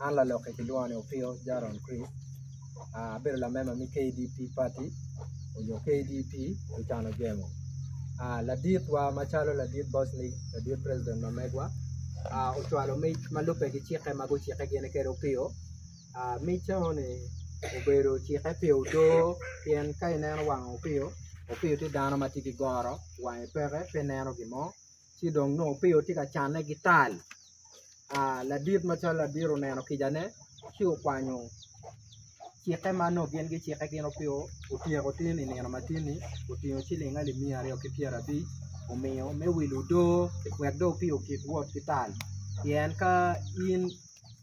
An laloki kilwonga ni Opio Jaron Chris abedo lamemba me KDP pati nyo KDP Lucan Ojemo laditwa macalo ladit boc ni ladit president ma megwa ocwalo mic ma lubbe ki cikke ma gucikke gin kede Opio mic enoni obedo ocikke pi odoo pien ka ineno wang Opio, Opio tye dano ma tye ki goro wange peke pe neno gin mo ci dong nongo Opio tye ka canne ki tal ladit macalo ladit oneno kicane ci okwanyo cikke ma nongo gin gicikke gin Opio otyeko tin i nino matini otingo ciling alip miya aryo ki pyerabic omiyo me wilo odoo wek dong Opio okik wot ki tal pien ka in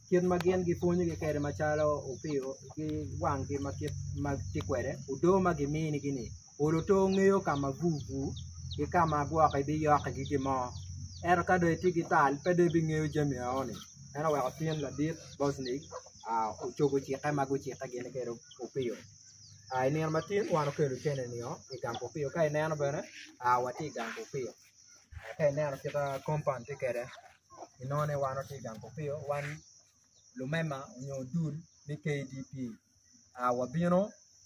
kit ma gin gipwonyogi kwede macalo Opio ki wanggi ma kit ma tye kwede odoo ma gimini-gi-ni Olo to ngeyo ka ma bur bur ki ka ma gwok biyok ki gin mo ento ka dong itye ki tal pe dong ibingeyo jami enoni meno oweko tin ladit Bocny ocobo cikke ma gucikke gin kwede Opio I nino ma tye wan okelo cene ni oo I gang Opio ka ineno bene watye I gang Opio ka ineno kit ma compound tye kwede inongo ni wan watye I gang Opio wan lumema nyo dul me KDP. wabino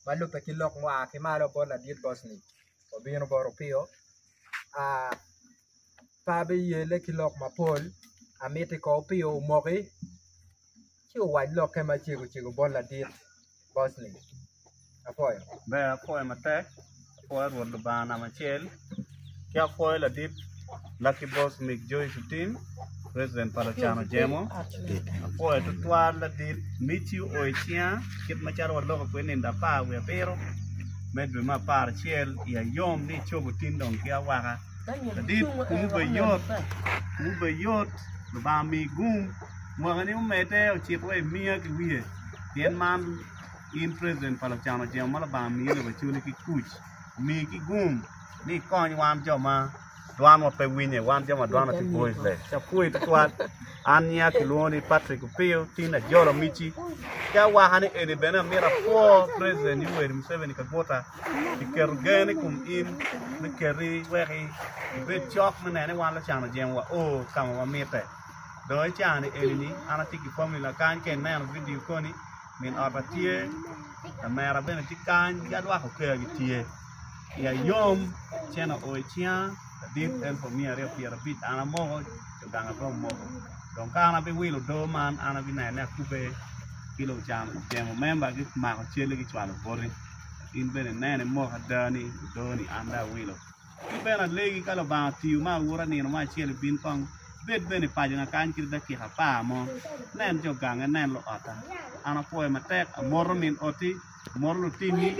ma lubbe ki lok mua ki malo bot ladit Bocni wabino bot Opio pe abiyelle ki lok mapol amiti ko Opio omoki ci owac lokke macego cego bot ladit Bocni apwoyo. Apwoyo Rwot Lubanga namba acel, ki apwoyo ladit Lucky Boss Mick Joey Sutin, president pa Lucan Ojemo. Apwoyo tutwal ladit Mici o i cinga kit macalo waloko kwede nindo apar wiye abiro me dwe me apar acel i ayom ni cobo tin dong ki awaka. Ladit kumu bed yot, kumu bed yot, Lubanga mi gum, mwakani omedde ocit wa imiya ki wiye pien man In president pa lucano jemo ma Lubanga miyi lobo i cwiny ki kuc, omiyi ki gum ni ikony wan jo ma dwanwa pe winye, wan jo ma dwanwa tye voiceless. Ci apwoyi tutwal. An nyinga kilwongo ni Patrick Opio, tin ajolo mici. Ci awaka ni eni bene amyero apwo president Yoweri Museveni Kaguta pi keto gen i kom in me keti wek ibed cok me neno ni wan lucano jemo wa o ka ma wamitte. Dong i caa-ni eni-ni an atye ki familina kany ka ineno vidio koni, Min ota tye, lamera bene tye kany ki adwako okeya gitye. I ayom cen oo i cinga ladit en pa omiya aryo pyera abic an amoko jo ganga pe omoko dong ka an abiwilo odo man an abineno ni akube ki lucan ocemo memba gimako cali gicwalo boti in bene inen imok ada ni odo ni an dong awilo. Ki bene alegi ka Lubanga otiyo me aura nino mo acel ibin kong, ibed bene i pacona kany kit dakika apar mo. Nen jo gangi, inen luotta. An apwoyo matek, amoto min oti, amoto lutinni,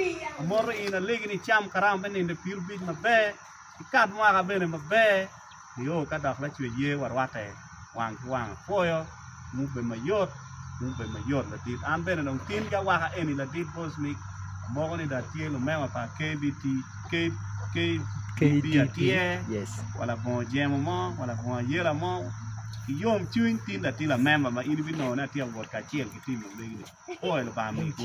amoto in, alegi ni icam karama me nino i pirubic maber, ikat mwaka bene maber. nio ka dok lacwec ye wa rwate wang ki wang apwoyo ngu bed mayot ngu bed mayot ladit an bene dong tin ki awaka eni ladit voice mic amoko ni dong atye lumema pa KBT KBT atye wa labongo jemo mo wa labongo ayela mo ki yom cwiny tin dong atye lamemba ma in ibinongo ni atye awot kacel ki tim ma megi ni apwoyo lubanga mego.